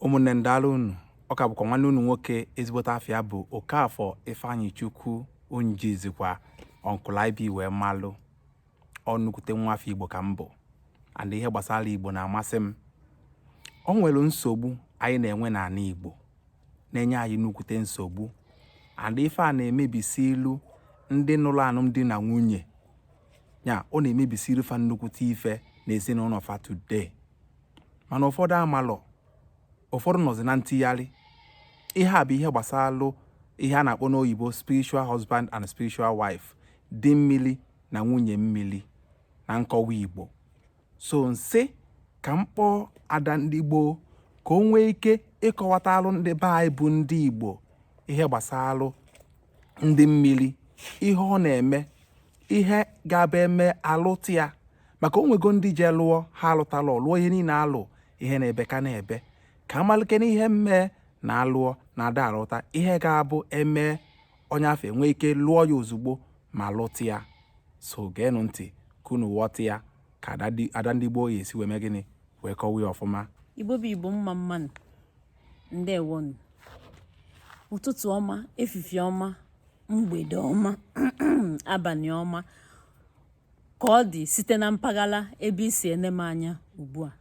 ụmụnne ndala unu ọ ka bụkwa nwanne unu nwoke ezigbote afa ya bụ Okafọ Ifeanyịchukwu onye e jizikwa Uncle IB wee malụ nnukwute nwa afọ Igbo ka m bụ and ihe gbasara Igbo na-amasị m o nwere nsogbu anyị na-enwe n'ala Igbo na-enye anyị nnukwute nsogbu and ife a na-emebisịlụ ndị nụrụ alụmdi na nwunye ya ọ na-emebisịlụ fa nnukwute ife na ezinụlọ fa today mana ụfọdụ amalọ ụfọdụ nọzi na ntigharị ihe a bụ ihe gbasalụ ihe a na-akpọ n'oyibo spiritual husband and spiritual wife di mmiri na nwunye mmiri na nkọwa igbo so m sị ka m kpọọ ada ndị gboo ka o nwee ike ịkọwatalụ ndị be anyị bụ ndị igbo ihe gbasalụ di mmiri ihe ọ na-eme ihe ga-abụ eme alụta ya maka o nwego ndị je lụọ ha alụtalọ lụọ ihe niile alụ ihe na-ebe ka na-ebe ka amalike na ihe mmee na alụọ na ada alụta ihe ga-abụ eme onye afụ enwee ike lụọ ya ozugbo ma lụta ya so geenụ ntị ka unu ghọta ya ka ada ndị gboo ya-esi wee mee gịnị wee kọwa ya ọfụma igbo bụ igbo mma mma nụ ndewo nụ ụtụtụ ọma efifie ọma mgbede ọma abanị ọma ka ọ dị site na mpaghara ebe i si ene m anya ugbu a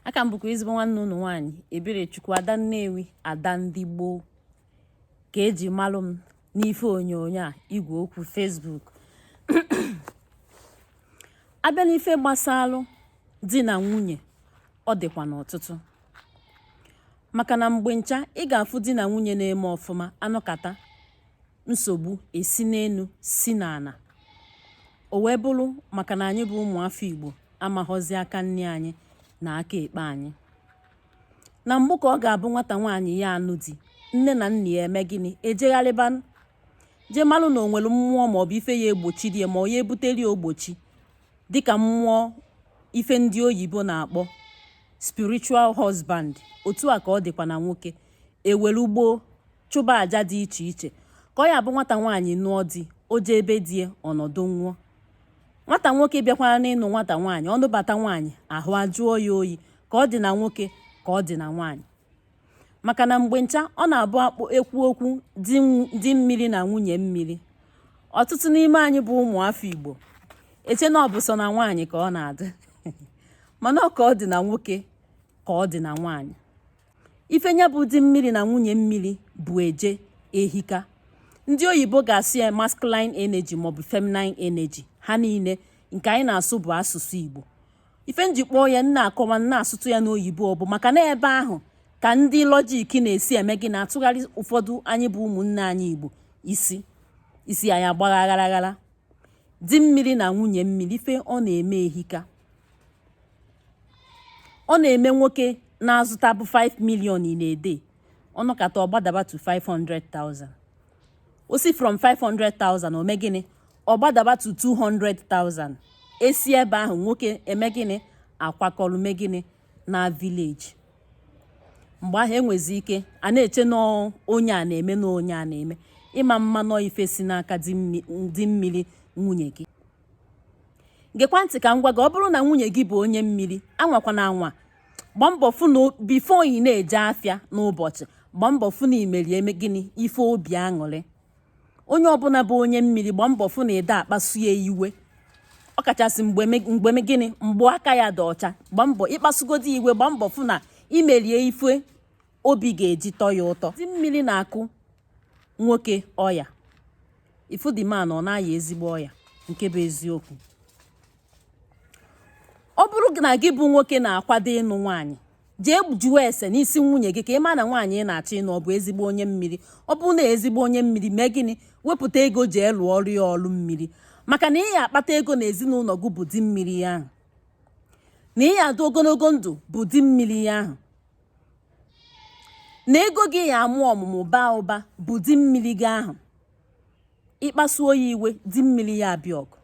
a ka m bụkwa ezigbo nwanne ụnụ nwaanyị Ebelechukwu ada Nnewi ada ndị gboo ka e ji malụ m n'ife onyonyo a igwe okwu Facebook a bịa n'ife gbasalụ di na nwunye ọ dịkwanụ ọtụtụ maka na mgbe ncha ị ga-afụ di na nwunye na-eme ọfụma a nọkata nsogbu esi n'elu si n'ala o wee bụrụ maka na anyị bụ ụmụafọ Igbo amaghọzi aka nni anyị na aka ekpe anyị na mbụ ka ọ ga-abụ nwata nwaanyị ya anụ di nne na nna ya eme gịnị ejegharịba jee malụ na o nwere mmụọ maọbụ ife ya egbochi di ya ma ọ ya ebuteli ya ogbochi Dịka mmụọ ife ndị oyibo na-akpọ spiritual husband, otu a ka ọ dịkwa na nwoke. E were gboo chụba aja dị iche iche ka ọ ya bụ nwata nwaanyị nụọ di, o jee be di ya ọ nọdụ nwayọọ. Nwata nwoke bịakwara n'ịnụ nwata nwaanyị, ọ nụbata nwaanyị ahụ ajụọ ya oyi ka ọ dị na nwoke ka ọ dị na nwaanyị. maka na mgbe ncha ọ na-abụ akpụ ekwu okwu di mmiri na nwunye mmiri ọtụtụ n'ime anyị bụ ụmụafọ Igbo eche na ọ bụ sọ na nwaanyị ka ọ na-adị mana ka ọ dị na nwoke ka ọ dị na nwaanyị ife nya bụ di mmiri na nwunye mmiri bụ eje ehika ndị oyibo ga-asụ ya masculine energy maọbụ feminine energy ha niile nke anyị na-asụ bụ asụsụ Igbo ife m ji kpọọ ya na-akọwa na-asụtụ ya n'oyibo ọ bụ maka na ebe ahụ ka ndị lọjik na-esi eme gịnị atụgharị ụfọdụ anyị bụ ụmụnne anyị igbo isi isi anyị agbaa aghara aghara di mmiri na nwunye mmiri ife ọ na-eme ehika ọ na-eme nwoke na-azụtabu 5 million in a day ọ nọkata ọ gbadaba to 500,000 o si from 500,000 o me gịnị ọ gbadaba to 200,000 e si ebe ahụ nwoke eme gịnị akwakọrọ me gịnị naa village mgbe ahụ e nwezi ike a na-eche na onye a na-eme na onye a na-eme ị ma ama na ọ ife si n'aka di mmiri nwunye gị gekwa ntị ka m gwa gị ọ bụrụ na nwunye gị bụ onye mmiri anwakwana anwa gbaa mbọ fụ na bifo ị na-eje afịa n'ụbọchị gbaa mbọ fụ na i meri eme gịnị ife obi aṅụrị onye ọbụla bụ onye mmiri gba mbọ fụ na ị da-akpasu ya iwe ọ kachasị mgbe me- mgbe me- gịnị mgbe aka ya dị ọcha gba mbọ ị kpasugodi iwe gba mbọ fụ na i meri ya ife obi ga-eji tọ ya ụtọ di mmiri na-akụ nwoke ọya ị fụ the man ọ na-aya ezigbo ọya nke bụ eziokwu ọ bụrụ na gị bụ nwoke na-akwado ịnụ nwaanyị jee jụọ ese n'isi nwunye gị ka ị ma na nwaanyị ị na-achọ ịnụ ọ bụ ezigbo onye mmiri ọ bụrụ na ezigbo onye mmiri mee gịnị wepụta ego jee lụọrọ ya ọrụ mmiri maka na ị ya-akpata ego na ezinụlọ gị bụ di mmiri ya ahụ na ị ya-adị ogologo ndụ bụ di mmiri ya ahụ na ego gị ya-amụ ọmụmụ baa ụba bụ di mmiri gị ahụ ị kpasuo ya iwe di mmiri ya abịa ọgụ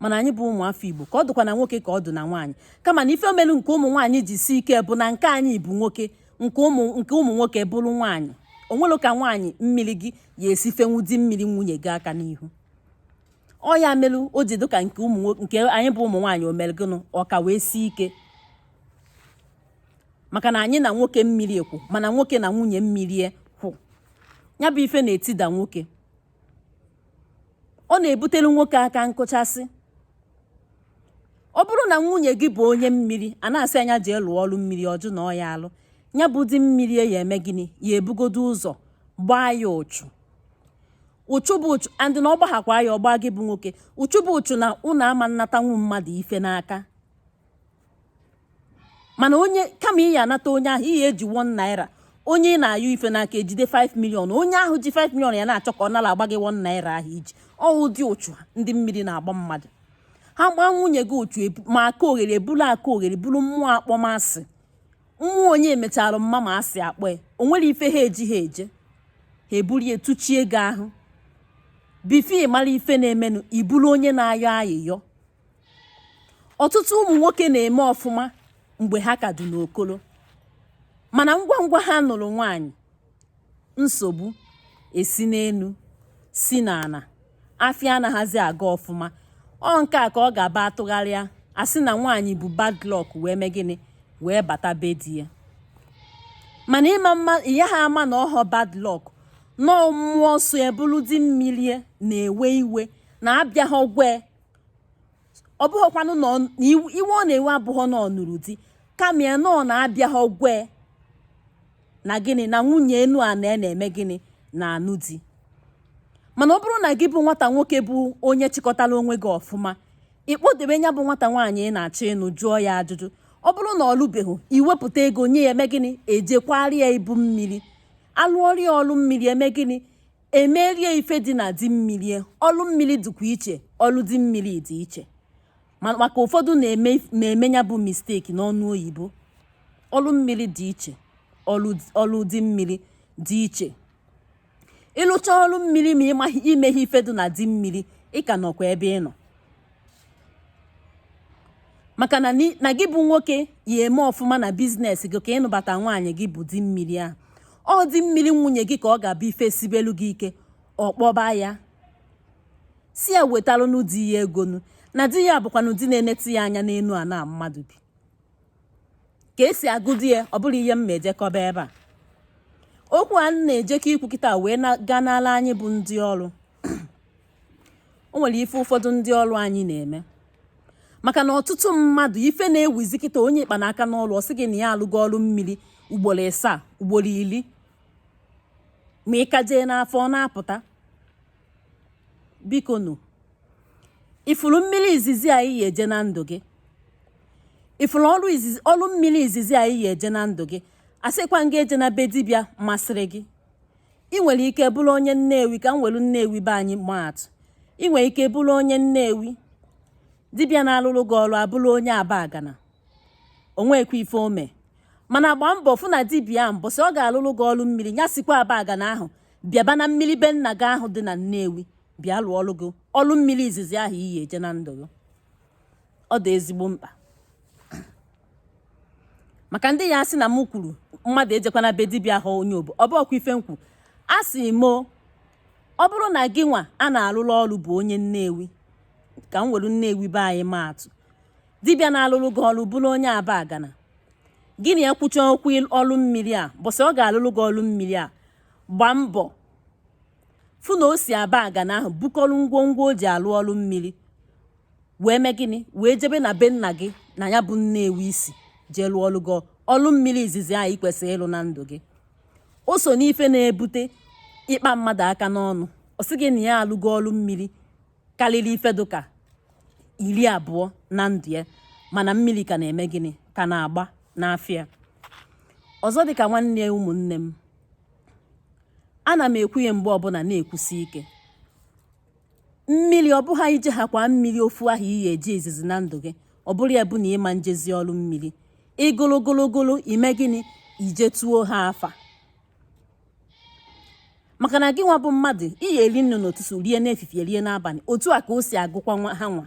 mana anyị bụ ụmụ afọ igbo ka ọ dịkwa na nwoke ka ọ dị na nwaanyị kama na ife melu nke ụmụ nwaanyị ji sie ike bụ na nke anyị bụ nwoke nke ụmụ nke ụmụ nwoke bụrụ nwaanyị o nwere ka nwaanyị mmiri gị ya-esi fenwu di mmiri nwunye gị aka n'ihu ọ ya melu o ji dịka nke ụmụ nke anyị bụ ụmụ nwaanyị o melu gịnị ọ ka wee sie ike maka na anyị na nwoke mmiri kwụ mana nwoke na nwunye mmiri kwụ ya bụ ife na-etida nwoke ọ na-ebutere nwoke aka nkụchasị ọ bụrụ na nwunye gị bụ onye mmiri a na-asị nya jee lụọ ọrụ mmiri ọ jụ na ọ ya-alụ ya bụ di mmiri ya ya-eme gịnị ya-ebugodo ụzọ gbaa ya ụchụ ụchụ bụ ụchụ andị na ọ gbaghakwa ya ọ gbaa gị bụ nwoke ụchụ bụ ụchụ na ụnụ ama anatanwu mmadụ ife n'aka mana onye kama ị ya-anata onye ahụ ihe i ji 1 naira onye ị na-ayọ ife n'aka ejide 5 million onye ahụ ji 5 million ya-na-achọ ka ọ narakwa gị 1 naira ahụ i ji ọ ụdị ụchụ ndị mmiri na-agba mmadụ ha gbaa nwunye gị ụchụ ma aka oghere ebulu aka oghere bulu mmụọ akpọmasị mmụọ onye e mechara mma ma asị akpọ ya o nwere ife ha ji ha eje ha ebulie tụchie gị ahụ bifo ị mara ife na-emenụ ị bụlụ onye na-ayọ ayịyọ ọtụtụ ụmụ nwoke na-eme ọfụma mgbe ha ka dị n'okolo mana ngwa ngwa ha nụrụ nwaanyị nsogbu esi n'elu si n'ana afịa anaghịzi aga ọfụma ọ nke a ka ọ ga-aba atụgharịa asị na nwaanyị bu bad luck wee mee gịnị wee bata be di ya mana ị yaha ama na ọhọ bad luck na ọ mmụọ so ya bụlụ di mmiri na-ewe iwe na abịaghị gwa ya ọ bụghịkwanụ na iwe ọ na-ewe abụghọ na ọ nụrụ di kama ya na ọ na abịaha gwa ya na gịnị na nwunye enu a na-eme gịnị na-anụ di mana ọ bụrụ na gị bụ nwata nwoke bụ onye chịkọtara onwe gị ọfụma ị kpọdebe nya bụ nwata nwaanyị ị na-achọ ịnụ jụọ ya ajụjụ ọ bụrụ na ọ lụbeghị i wepụta ego nye ya eme gịnị ejekwara ya ibu mmiri alụọra ya ọrụ mmiri eme gịnị emere ya ife dị na di mmiri ọlụ mmiri dịkwa iche ọlụ di mmiri dị iche maka ụfọdụ na-eme ya bụ mistake n'ọnụ oyibo ọlụ mmiri dị iche ọlụ di mmiri dị iche ị lụcha ọlụ mmiri ma i meghị ife dị na di mmiri ị ka nọkwa ebe ị nọ maka na ni- na gị bụ nwoke ya eme ọfụma na business gị ka ị nụbata nwaanyị gị bụ di mmiri ahụ ọ di mmiri nwunye gị ka ọ ga-abụ ife sibelu gị ike ọ kpọba ya sị ya wetalụnụ di ya ego nụ na di ya bụkwanụ di na-eneta ya anya n'elu a na mmadụ bi ka esi agụdi ya ọ bụrụ ihe m ma ejekọba ebe a okwu a m na-ejekọ ikwu kịta wee na- gaa n'ala anyị bụ ndị ọrụ o nwere ife ụfọdụ ndị ọrụ anyị na-eme maka na ọtụtụ mmadụ ife na-ewuzi kịta onye ị kpa n'aka n'ọrụ ọ sị gị na ya alụgo ọrụ mmiri ugboro ịsaa ugboro iri ma ị ka jee n'afa ọ na-apụta biko nụ ị fụrụ mmiri izizi ahụ ị ya eje na ndụ gị ị fụrụ ọrụ izizi ọrụ mmiri izizi ahụ ị ya eje na ndụ gị asịkwa m gị ejena be dibịa masịrị gị i nwere ike bụrụ onye nnewi ka m were nnewi be anyị maa atụ i nwere ike bụrụ onye nnewi dibịa na-alụrụ gị ọrụ abụrụ onye abagana o nwekwa ife o me mana gbaa mbọ fụ na dibịa ahụ mbọsị ọ ga-alụrụ gị ọrụ mmiri ya sikwa abagana ahụ bịaba na mmiri be nna gị ahụ dị na nnewi bịa lụọrọ gị ọrụ mmiri izizi ahụ ị ya eje na ndụ gị ọ dị ezigbo mkpa maka ndị ya asị na m kwuru mmadụ ejekwana be dibịa ahụ onye ebe ọ bụ ọkwa ife m kwu asị m ọ bụrụ na gị nwa a na-alụrụ ọrụ bụ onye nnewi ka m were nnewi be anyị maa atụ dibịa na-alụrụ gị ọrụ bụrụ onye abagana gị na ya kwụcha okwu ọrụ mmiri mbọsị ọ ga-alụrụ gị ọrụ mmiri a gbaa mbọ fụ na o si abagana ahụ bukọrọ ngwongwo o ji alụ ọrụ mmiri wee mee gịnị wee jebe na be nna gị na ya bụ Nnewi i si jee lụọ ọlụ gị ọlụ mmiri izizi anyị kwesịrị ịlụ na ndụ gị o so n'ife na-ebute ịkpa mmadụ aka n'ọnụ ọ sị gị na ya alụgo ọlụ mmiri karịrị ife dụka iri abụọ na ndụ ya mana mmiri ka na-eme gịnị ka na-agba n'afịa ọzọ dịka nwanne ya ụmụnne m ana m ekwu ya mgbe ọbụla na-ekwusi ike Mmiri ọ bụghị na i jechakwa mmiri ofu ahụ i ya-eje izizi na ndụ gị ọ bụrụ ya bụ na ị ma ejezi ọlụ mmiri ị gụrụ gụrụ i mee gịnị i jetuo ha afa maka na gị nwa bụ mmadụ i ya-eri nni n'ụtụtụ rie n'efifie rie n'abalị otu a ka o si agụkwa ha nwa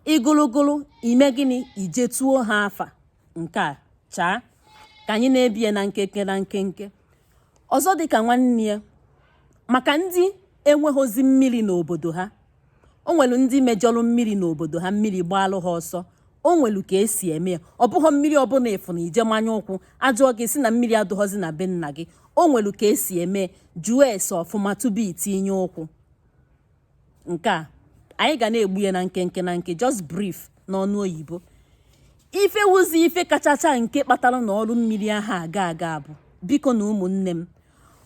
ị gụrụ gụrụ i mee gịnị i jetuo ha afa nke a chaa ka anyị na-ebie na nkenke na nkenke Ọzọ dịka nwanne ya, maka ndị enweghịzi mmiri n'obodo ha, o nwere ndị mejọrọ mmiri n'obodo ha, mmiri gbaalụ ha ọsọ, o nwere ka e si eme ya. Ọ bụghọ mmiri ọbụna ị fụrụ i jee manye ụkwụ, a jụọ gị ị sị na mmiri adụghọzi na be nna gị. O nwere ka e si eme, jụọ ese ọfụma tupu itinye ụkwụ. nke a anyị ga na-egbu ya na nkenke na nke just brief n'ọnụ oyibo ife wuzi ife kachacha nke kpatara na ọlụ mmiri ahụ aga aga bụ biko na ụmụnne m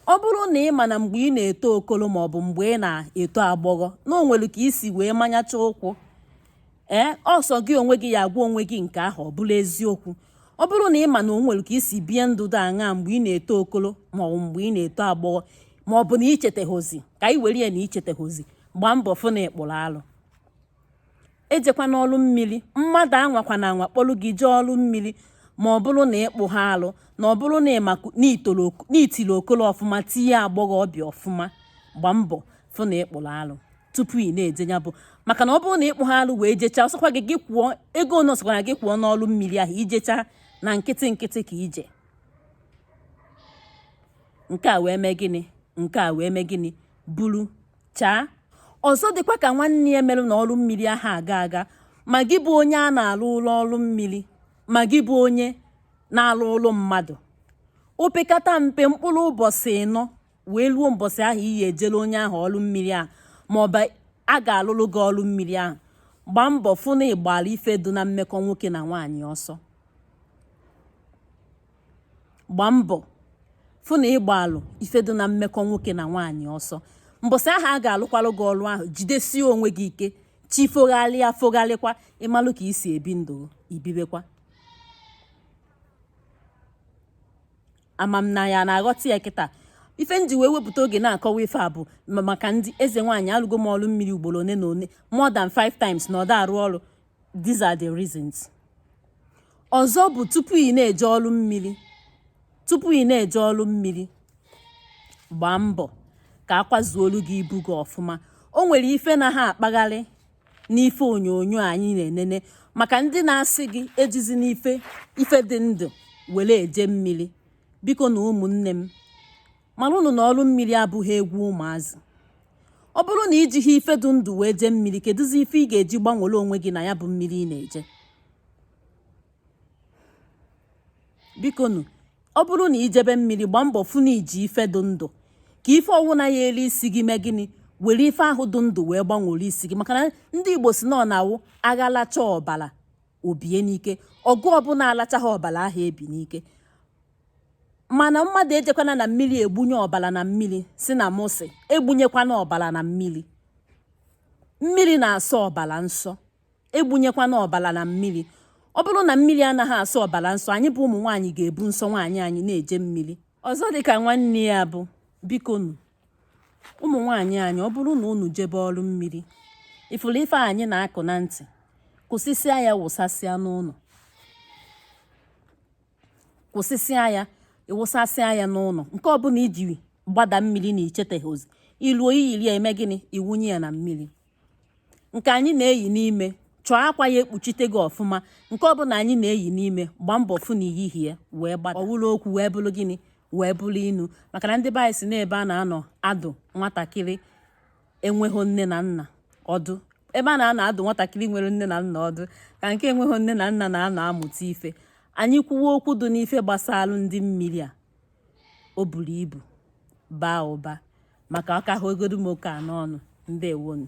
ọ bụrụ na ị ma na mgbe ị na-eto okolo ma ọ bụ mgbe ị na-eto agbọghọ na o nwere ka i si wee manyacha ụkwụ ee ọ sọ gị onwe gị ya-agwa onwe gị nke ahụ bụ eziokwu ọ bụrụ na ị ma na o nwere ka i si bie ndụ dị aṅaa mgbe ị na-eto okolo ma ọ bụ mgbe ị na-eto agbọghọ ma ọ bụ na i cheteghị ka anyị were ya na i cheteghịzi gbaa mbọ fụ na ị kpụrụ alụ ejekwana ọlụ mmiri mmadụ anwakwana anwa kpọrọ gị jee ọlụ mmiri ma ọ bụrụ na ị kpụha alụ na ọ bụrụ na i tiri okolo ọfụma tie agbọghọbịa ọfụma gbaa mbọ fụ na ị kpụrụ alụ tupu ị na-eje ya bụ maka na ọ bụrụ na ị kpụha alụ wee jechaa ọ sọkwa gị gị kwụọ ego one ọ sọkwara gị kwụọ n'ọlụ mmiri ahụ i jechaa na nkịtị nkịtị ka i je nke a wee mee gịnị nke a wee mee gịnị buru chaa ọzọ dịka nwanne ya mere na ọlụ mmiri ahụ aga aga ma gị bụ onye a na-alụlụ ọlụ mmiri ma gị bụ onye na-alụlụ mmadụ opekata mpe mkpụrụ ụbọsị ịnọ wee ruo mbọsị ahụ i ya-ejere onye ahụ ọlụ mmiri ahụ maọbụ a ga-alụlụ gị ọlụ mmiri ahụ gbaa mbọ fụ na ị gbara ife dị na mmekọ nwoke na nwaanyị ọsọ gbaa mbọ fụ na ị gbaalụ ife dị na mmekọ nwoke na nwaanyị ọsọ mbọsị ahụ a ga-alụkwalụ gị ọlụ ahụ jidesie onwe gị ike chi fogharịa fogharịkwa ị malụ ka i si ebi ndụ i bibekwa ama m na ị na-aghọta ya kịta ife m ji wee wepụta oge na-akọwa ife a bụ maka ndị eze nwaanyị alụgo m ọrụ mmiri ugboro one na one more than five times na ọ da arụ ọrụ these are the reasons ọzọ bụ tupu ị na-eje ọrụ mmiri tupu ị na-eje ọrụ mmiri gbaa mbọ ka a kwazuolu gị ibu gị ọfụma o nwere ife na ha akpagharị n'ife onyonyo anyị na-enene maka ndị na-asị gị ejizina ife dị ndụ were eje mmiri bikonu ụmụnne m Malụnụ na ọrụ mmiri abụghị egwu ụmụazị. Ọ bụrụ na i jighị ife dị ndụ wee jee mmiri, kedụzi ife ị ga-eji gbanwere onwe gị na ya bụ mmiri ị na-eje? Bikonu, ọ bụrụ na i jebe mmiri, gbaa mbọ fụ na i ji ife dị ndụ ka ife ọwụna ya-elu isi gị mee gịnị were ife ahụ dị ndụ wee gbanwere isi gị maka na ndị Igbo si na ọ na-awụ agha lachaa ọbara o bie n'ike ọgụ ọbụla alachaghị ọbara ahụ ebi n'ike mana mmadụ ejekwana na mmiri egbunye ọbara na mmiri sị na mụ sị egbunyekwana ọbara na mmiri mmiri na-asọ ọbara nsọ egbunyekwana ọbara na mmiri ọ bụrụ na mmiri anaghị asọ ọbara nsọ anyị bụ ụmụ nwaanyị ga-ebu nsọ nwaanyị anyị na-eje mmiri ọzọ dịka nwanne ya bụ bikonu ụmụ nwaanyị anyị ọ bụrụ na unu jebe ọrụ mmiri ị fụrụ ife anyị na-akwụ na ntị kwụsịsịa ya wụsasịa n'ụlọ kwụsịsịa ya ị wụsasịa ya n'ụlọ nke ọbụla i ji gbada mmiri na i cheteghị ozi i luo i yiri ya i mee gịnị ị wụnye ya na mmiri nke anyị na-eyi n'ime chọọ akwa ya-ekpuchite gị ọfụma nke ọbụla anyị na-eyi n'ime gbaa mbọ fụ na i yighị ya wee gbada ọ wụrụ okwu wee bụrụ gịnị wee bụrụ inu maka na ndị be anyị si na ebe a na-anọ adụ nwatakịrị enweghị nne na nna ọdụ ebe a na-anọ adụ nwatakịrị nwere nne na nna ọdụ ka nke enweghị nne na nna na-anọ amụta ife anyị kwuwa okwu dị n'ife gbasara ndị mmiri a o buru ibu baa ụba maka ka ọ hagodu m oke a n'ọnụ ndewonu